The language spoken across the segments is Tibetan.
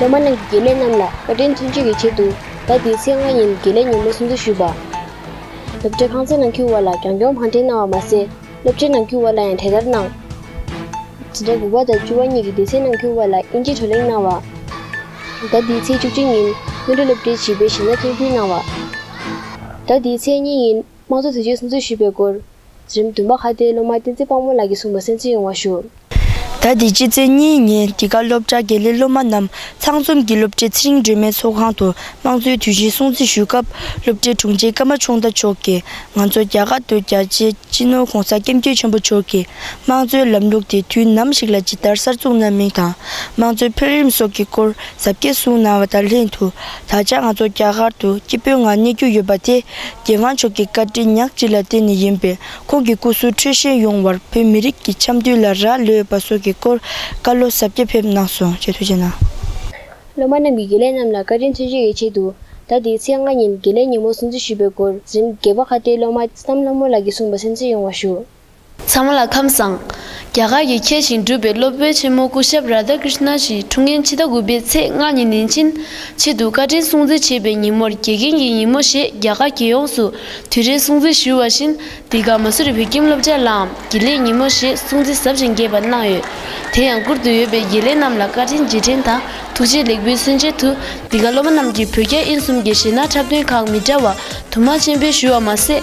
ལོ་མ་རྣམས་ཀྱི་དགེ་ལས་རྣམས་ལ་བཀའ་དྲིན་མཚོན་ཆེད་ཀྱི་ཆེད་དུ་ཟླ་འདིའི་ཚེས་ལྔ་ཉིན་དགེ་ལས་ཉིན་མོ་སྲུང་བརྩི་ཞུས་པ། སློབ་གྲྭའི་ཁང་ཚན་ནང་ཁྱུར་བ་ལ་རྒྱང་སྐྱོང་བྷང་ཁྲན་གནང་བ་མ་ཟད་སློབ་ཆེན་ནང་ཁྱུར་བ་ལ་ཡང་དེ་ལྟར་གནང། ཟླ་དགུ་བ་དང་བཅུ་བ་གཉིས་ཀྱི་སྡེ་ཚན་ནང་ཁྱུར་བ་ལ་དབྱིན་ཇིའི་བགྲོ་གླེང་གནང་བ། ཟླ་འདིའི་ཚེས་བཅུ་གཅིག་ཉིན་དབོན་སྤྲུལ་སློབ་གྲྭའི་བྱིས་པའི་ཞིང་ན་ཐོན་ཁུལ་གནང་བ། ཟླ་འདིའི་ཚེས་གཉིས་ཉིན། དམངས་གཙོ་དོན་གཅོད་གསུམ་གཙོས་ཞུས་པའི་སྐོར། གཞི་རིམ་བདུན་པ་ཁ་བརྡའི་སློབ་མ་བསྟན་འཛིན་དཔང་མོ་ལགས་ཀྱིས་གསུངས་པར་གསན་འཕྲིན་ཡོང་བ་ཞུ། ཟླ་འདིའི་ཕྱི་ཚེས་གཉིས་ཉིན་འདི་ག་སློབ་གྲྭ་དགེ་ལས་སློབ་མ་རྣམས་ཚང་འཛོམས་ཀྱིས་སློབ་གྲྭའི་ཚེ་རིང་སྒྲོལ་མའི་ཚོགས་ཁང་དུ་དམངས་གཙོའི་དུས་ཆེན་སྲུང་བརྩི་ཞུས་སྐབས་སློབ་གྲྭའི་དྲུང་ཆེ་ཀརྨ་ཆུང་བདག་མཆོག་གིས་ང་ཚོ་རྒྱ་གར་དུ་རྒྱལ་གཅེས་སྤྱི་ནོར ྋགོང་ས ྋསྐྱབས་མགོན་ཆེན་པོ་མཆོག་གིས་དམངས་གཙོའི་ལམ་ལུགས་དེ་དུས་ནམ་ཞིག་ལ་ཇི་ལྟར་གསར་བཙུགས་གནང་མིན་དང་དམངས་གཙོའི་འཕེལ་རིམ་སོགས་ཀྱི་སྐོར་གཟབ་རྒྱས་གསུངས་གནང་བ་དང་ལྷན་དུ་ད་ཆ་ང་ཚོ་རྒྱ་གར་དུ་སྐྱིད་སྤོས་ངང་གནས་རྒྱུ་ཡོད་པ་དེ་རྒྱལ་དབང་མཆོག་གི་བཀའ་དྲིན་ཉག་གཅིག་ལ་བརྟེན་ནས་ཡིན་པས་ཁོང་གི་སྐུ་གཟུགས་འཕྲོད་བཞེངས་ཡོང་བར་བོད་མི་རིགས་ཀྱི་འཆམ་མཐུན་ལ་རག་ལས་པ་སོགས་ཀྱི་སྐོར་བཀའ་སློབ་ཟབ་རྒྱས་ཕེབས་གནང་སོང་ཞེས་ཐུགས་རྗེ་གནང། སློབ་མ་རྣམས་ཀྱིས་དགེ་ལས་རྣམས་ལ་བཀའ་དྲིན་མཚོན་བྱེད་ཀྱི་ཆེད་དུ་ཟླ་འདིའི་ཚེས་ལྔ་ཉིན་དགེ་ལས་ཉིན་མོ་སྲུང་བརྩི་ཞུས་པའི་སྐོར་གཟིམ་དགེ་པ་ཁ་བརྡའི་སློབ་མ་བསམ་ལྷ་མོ་ལགས་ཀྱིས་གསུངས་པ་སེམས་གསོ་ཡོང་བ་ཞུ། ཚང་མ་ལ་ཁམས་བཟང། རྒྱ་གར་གྱི་མཁས་ཤིང་གྲུབ་པའི་སློབ་དཔོན་ཆེན་མོ་སྐུ་ཞབས Radha Krishna ཞིག་ཁྲུང་ངེན་ཕྱི་ཟླ་དགུ་པའི་ཚེས་ལྔ་ཉིན་ནན་ཅིན་ཆེད་དུ་བཀའ་དྲིན་སྲུང་བརྩི་བྱེད་པའི་ཉིན་མོར་དགེ་རྒན་གྱི་ཉིན་མོ་ཞེས་རྒྱ་གར་རྒྱལ་ཡོངས་སུ་དུས་རེའི་སྲུང་བརྩི་ཞུ་བ་བཞིན་འདི་ག་མ་སུ་རི་བོད་ཁྱིམ་སློབ་སྦྱར་ལའང་དགེ་ལེགས་ཉིན་མོ་ཞེས་སྲུང་བརྩི་ཟབ་ཅིང་རྒྱས་པ་གནང་ཡོད། དེ་ཡང་བཀུར་འདོད་ཡོད་པའི་དགེ་ལས་རྣམས་ལ་བཀའ་དྲིན་རྗེས་དྲན་དང་ཐུགས་རྗེ་ལེགས་འབུལ་སོན་ཆེད་དུ་འདི་ག་སློབ་མ་རྣམས་ཀྱིས་བོད་རྒྱ་ཨིན་གསུམ་གྱི་གཞས་སྣ་འཁྲབ་སྟོན་ཁག་མི་འདྲ་བ་དུ་མ་ཆེན་པོས་ཞུ་བ་མ་ཟད།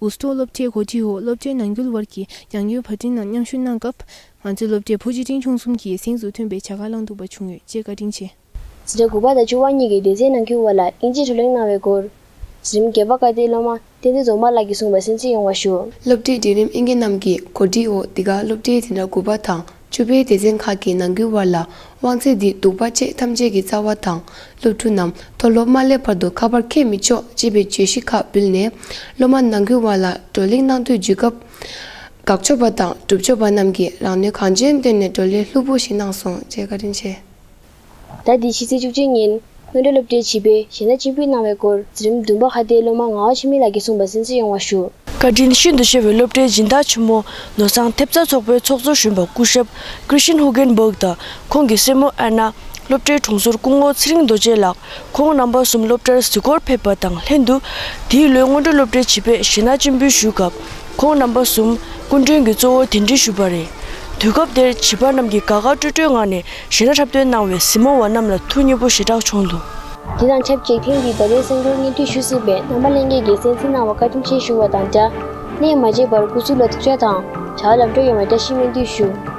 འུ་ཚོ་སློབ་གྲྭའི་གོ་སྒྲིག་འོག་སློབ་གྲྭའི་ནང་ཁུལ་བར་གྱི་རྒྱང་སྐྱོད་བར་འཕྲིན་ནང་མཉམ་ཞུགས་གནང་སྐབས། ང་ཚོའི་སློབ་གྲྭས་བུ་གཅིག་འབྲིང་ཆུང་གསུམ་གྱི་གཟེངས་སུ་མཐུན་པའི་བྱ་དགའ་བླངས་འདུག་པ་བྱུང་ཡོད་ཅེས་བཀའ་དྲིན་ཆེ། ཕྱི་ཟླ་དགུ་པ་དང་བཅུ་བ་གཉིས་ཀྱི་སྡེ་ཚན་ནང་ཁུལ་བར་ལ་དབྱིན་ཇིའི་བགྲོ་གླེང་གནང་བའི་སྐོར། གཞི་རིམ་བརྒྱད་པ་བཀའ་བསྟན་སློབ་མ་བསྟན་འཛིན་རྫོང་མ་ལགས་ཀྱིས་གསུངས་པར་གསན་གཟིགས་ཡོང་བ་ཞུ། སློབ་གྲྭའི་འབྲིང་རིམ་ཨིན་སྐད་རྣམས་ཀྱི་གོ་སྒྲིག་འོག་འདི་ག་སློབ་གྲྭའི་དེ་འདྲ་དགུ་པ་དང། བཅུ་པའི་སྡེ་ཚན་ཁག་གི་ནང་ཁུལ་དབར་ལ་དབང་ཚད་འདི་གདུག་པ་བཅས་ཐམས་ཅད་ཀྱི་རྩ་བ་དང་སློབ་ཕྲུག་རྣམས་མཐོ་སློབ་མ་སླེབས་བར་དུ་ཁ་པར་འཁེལ་མི་ཆོག་ཅེས་པའི་བརྗོད་གཞི་ཁག་འབུལ་ནས། སློབ་མ་ནང་ཁུལ་དབར་ལ་བགྲོ་གླེང་གནང་དུས་བརྒྱུད་སྐབས། དགག་ཕྱོགས་པ་དང་སྒྲུབ་ཕྱོགས་པ་རྣམས་ཀྱིས་རང་ནུས་གང་ཅན་བཏོན་ནས་བགྲོ་གླེང་ལྷུག་པོ་ཞིག་གནང་སོང་ཅེས་བཀའ་དྲིན་ཆེ། ཟླ་འདིའི་ཕྱི་ཚེས་བཅུ་གཅིག་ཉིན། སྔོན་འགྲོ་སློབ་གྲྭའི་བྱིས་པའི་གཞས་སྣ་གཅིག་པུས་གནང་བའི་སྐོར་རྩིས་རིམ་བདུན་པ་ཁ་བརྡའི་སློབ་མ་ངག་དབང་འཆི་མེད་ལགས་ཀྱིས་གསུངས་པ་གསན་གསོལ་ཡོང་བ་ཞུ། བཀའ་དྲིན་ཤིན་ཏུ་ཆེ་བའི་སློབ་གྲྭའི་སྦྱིན་བདག་ཆེན་མོ་ནོར་བཟང་ཐེབས་རྩ་ཚོགས་པའི་ཚོགས་གཙོ་གཞོན་པ་སྐུ་ཞབས Christian Hugenberg དང་ཁོང་གི་སྲས་མོ Anna སློབ་གྲྭའི་དྲུང་ཟུར་སྐུ་ངོ་ཚེ་རིང་རྡོ་རྗེ་ལགས་ཁོང་རྣམ་པ་གསུམ་སློབ་གྲྭར་གཟིགས་སྐོར་ཕེབས་པ་དང་ལྷན་དུ། འདིའི་ལོའི་སྔོན་འགྲོ་སློབ་གྲྭའི་བྱིས་པས་གཞས་སྣ་གཅིག་འབུལ་ཞུས་སྐབས་ཁོང་རྣམ་པ་གསུམ་སྐུ་མགྲོན་གྱི་གཙོ་བོར་དན་འདྲི་ཞུས་པ་རེད། དུས་སྐབས་དེར་བྱིས་པ་རྣམས་ཀྱིས་དགའ་དགའ་སྤྲོ་སྤྲོའི་ངང་ནས་གཞོན་ནུ་འཁྲབ་སྟོན་གནང་བའི་གཟིགས་མོ་བ་རྣམས་ལ་ཐུགས་མཉེས་པོ་ཞེ་དྲག་བྱུང་འདུག། དེ་དང་ཆབས་ཅིག་ཐེངས་འདིའི་ཟླ་བའི་སེང་རྡོར་བརྙན་འཕྲིན་ཞུ་སྲིད་པའི་རྣམ་པ་གླེང་མཁན་གྱི་གསན་གཟིགས་གནང་བར་བཀའ་དྲིན་ཆེ་ཞུ་བ་དང་སྦྲགས། གནས་མ་བརྗེད་པར་སྐུ་གཟུགས་ལ་ཐུགས་བཅག་དང་བྱ་བ་ལམ་འགྲོ་ཡོང་བའི་བཀྲ་ཤིས་སྨོན་འདུན་ཞུ།